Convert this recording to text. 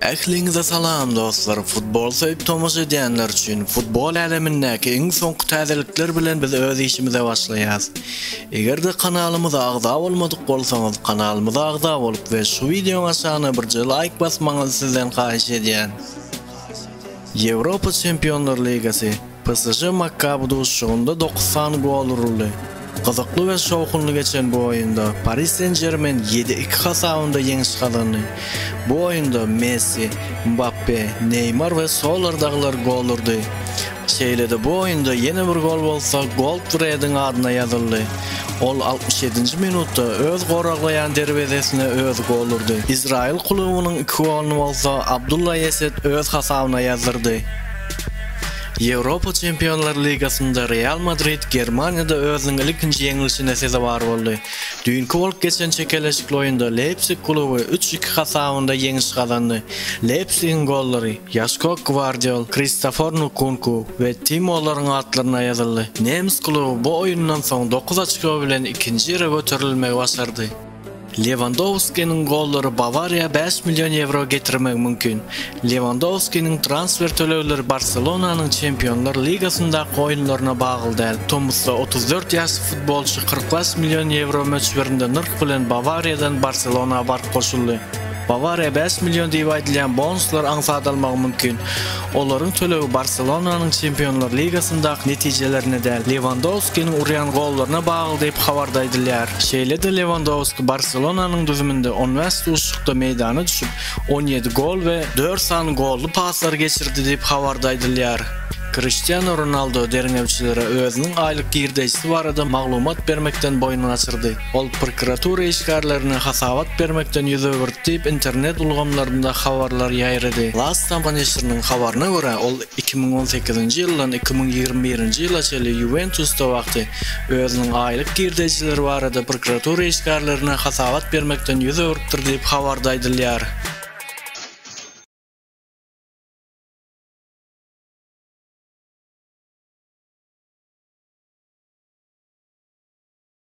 Ähliňize salam dostlar futbol söýüp tomaşa edýänler üçin futbol älemindäki iň soňky täzelikler bilen biz öz işimize başlaýas. Egerde kanalymyza agza bolmadyk bolsaňyz kanalymyza agza bolup we şu wideoň aşagyna birje laýk basmaňyzy sizden haýyş edýän. Ýewropa Çempionlar Ligasy PSŽ Makkaby duşuşygynda dokuz sany gol uruldy. Gyzykly we şowhunly geçen bu oýunda Pari Sen-Žermen ýedi iki hasabynda ýeňiş gazandy. Bu oýunda Messi, Mbappe, Neýmar we Solar dagylar gol urdy. Şeýle-de bu oýunda ýene bir gol bolsa Goldfrediň adyna ýazyldy. Ol altmyş ýedinji minutda öz goraglaýan derwezesine özi gol urdy. Izraýyl klubynyň iki goluny bolsa Abdullah Eset öz hasabyna ýazdyrdy. Ýewropa Çempionlar ligasynda Real Madrid Germaniýada özüniň ilkinji ýeňlişine sezewar boldy. Düýnki bolup geçen çekeleşikli oýunda Leýpsig kluby üç iki hasabynda ýeňiş gazandy. Leýpsigiň gollary Ýaşko Gwardiol, Kristofor Nkunku we Timo Loryň atlaryna ýazyldy. Nemes kluby bu oýundan soň dokuz oçko bilen ikinji ýere göterilmegi başardy. Lewandowskiniň gollary Bawariýa bäş million ýewro getirmegi mümkin. Lewandowskiniň transfer tölegleri Barselonanyň Çempionlar ligasyndaky oýunlaryna bagly däl. Tomusda otuz dört ýaşly futbolçy kyrk bäş million ýewro möçberinde nyrh bilen Bawariýadan Barselona baryp goşuldy. Bawariýa bäş million diýip aýdylýan bonuslar aňsat almagy mümkin. Olaryň tölegi Barselonanyň Çempionlar ligasyndaky netijelerine däl, Lewandowskiniň urýan gollaryna bagly diýip, habarda aýdylýar. Şeýle-de Lewandowski Barselonanyň düzüminde on bäş duşuşykda meýdana düşüp, on ýedi gol we dört sany golly paslar geçirdi diýip, habarda aýdylýar. Kriştianu Ronaldo derňewçilere özüniň aýlyk girdeýjisi barada maglumat bermekden boýun gaçyrdy. Ol prokuratura işgärlerine hasabat bermekden ýüz öwürdi diýip, internet ulgamlarynda habarlar ýaýrady. Lastama neşiriniň habaryna görä, ol iki müň on sekizinji ýyldan iki müň ýigrimi birinji ýyla çenli Ýuwentusda wagty özüniň aýlyk girdejileri barada prokuratura işgärlerine hasabat bermekden ýüz öwrüpdir diýip, habarda aýdylýar.